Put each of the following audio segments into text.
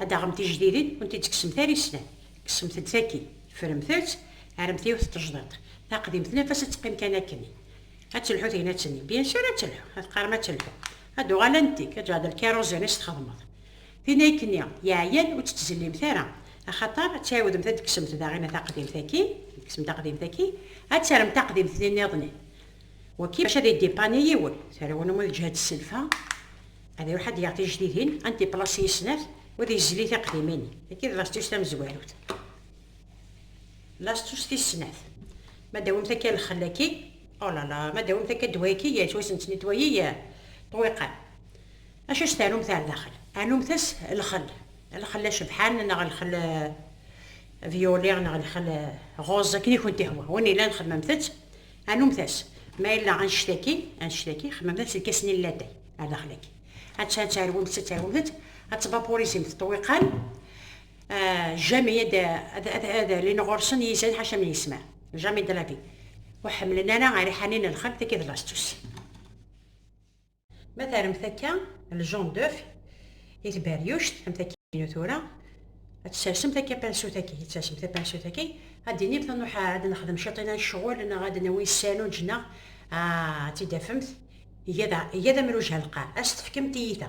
Ad d-taɣem tijdidin ur tent-id-tekksemt ara i slam, kksemt-d tagi, ffremt-tt, rremt yiwet n tejdiṭ, taqdimt n afas ad teqqim kan akken i. Ad telḥu tegnat-nni? Bien sûr ad telḥu, ad teqqarem ad telḥu. Ad d-tuɣal anti-k, ad d-tuɣal d lkiruẓin i s-txedmeḍ. Tin akken-i yeɛyan ur tt-ttzellimt ara, axaṭer ad tɛiwdemt ad d-tekksemt daɣina taqdimt-agi, ad d-tekksemt taqdimt-agi, ad terremt taqdimt-nni-nniḍen i. Wagi maca ad idipani yiwen, terwnem ur teǧhed sselfa. Ad iruḥ ad d-yaɣ tijdidin, ad n-tiplaṣi i snat u ad yezli tiqdimin. Tagi d lastus tamezwarut. Lastus tis snat. Ma d-tawimt akka lxel-agi, oh là là, ma d-tawimt akka ddwa-agi, yettwasensen i ddwa-yi i ṭṭwiqan. Acu s-tarumt ar daxel? Anumt-as lxel. Lxel acebḥan neɣ lxel violet neɣ lxel rose, akken i kent-ihwa. Win yellan xemmemt-tt, Anumtas, ma yella annect-agi, annect-agi, xemmemet deg ass-nni n latay, ar daxel-agi. Atta ad terwumt, ad terwumt, ad tbapurizimt ṭṭwiqan, jami ad, ad, ad, ad alin ɣur-sen yizan ḥaca min yesma, jami de la vie, ur ḥemmlen ara ariḥani n lxelf d iḍlastus. Ma terremt akka ljon d'œuf i tberyuct am takkin tura, ad tessersemt akka pansut-agi, ad tessersem tapansut-agi, ad d-tinimt nuḥ ad nexdem ciṭ i ccɣel neɣ ad nawi ssanuǧ neɣ ad tt-id-tafemt iga d amruj halqam, ad as-tefkem tiyita.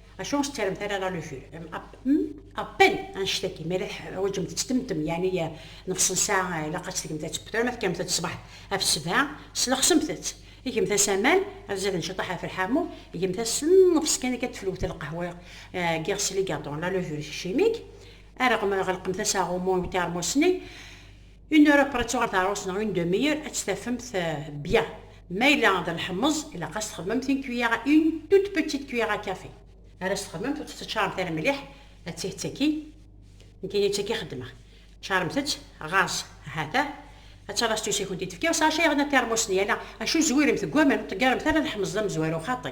Acu ur tettaremt ara la luture Appel anect-agi, ma la teḥwaǧemt ad ttemtem, yeɛni nefs n ssaɛa ilaq ad tgemt ad tewwet, ma tekkamt ad ṣṣbeḥ af sebɛa, slexsemt-tt. Gemt-as aman, ad zaden ciṭaḥ af lḥamu, gemt-as nnefs kan akka teflwet lqahwa deg iɣes ligaṭu, la luture chimique, areɣ, ɣelqemt-as aɣumu i uteṛmus-nni, Une heure après tuɣal teɛrust neɣ une demi-heure ad tt-tafemt bien. Ma yella d leḥmeẓ ilaq ad s-txedmemt une cuillère à une toute petite cuillère à café. Ara s-txedmemt ur tt-teččaremt ara mliḥ ad tih d tagi nekkini d tagi xeddmeɣ. Ččaremt-tt ɣas ha-t-a ad talas tusa i kent-id-tefka u sachet yerna termus-nni ala acu zwiremt deg waman ur ṭeggaremt ara leḥmeẓ d amezwaru xaṭi.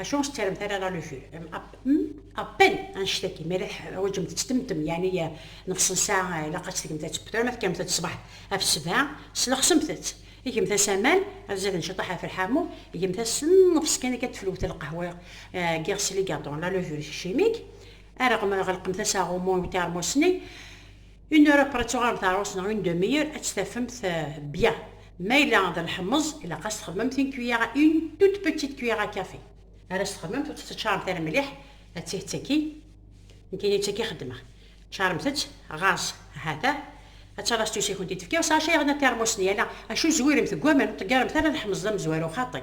Acu ur s-ttaremt ara la lucul Appel annect-agi, mi ara teḥwaǧemt ad temmtem, yeɛni nefs n ssaɛa ilaq ad tgemt ad tebter, ma tekkamt-d ṣṣbeḥ af sebɛa, slexsemt-tt. Gemt-as aman, ad zaden ciṭṭaḥ af lḥamu, gemt-as nnefs kan akka teflwt lqahwa n yiɣes ligadon, la levure chimique, areɣ ma ɣelqemt-as aɣummu i uteṛmus-nni, Une heure après tuɣalem teɛrus neɣ une demi-heure ad tt-tafemt bien. Ma yella d lḥemmeẓ ilaq ad s-txedmemt une cuillère à une toute petite cuillère à café. Ara s-txedmemt ur tt-teččaremt ara mliḥ ad tih d tagi nekkini d tagi xeddmeɣ. Ččaremt-tt ɣas ha-t-a ad talas tusa i kent-id-tefka u sachet yerna termus-nni ala acu zwiremt deg waman ur ṭeggaremt ara lḥemmeẓ d amezwaru xaṭi.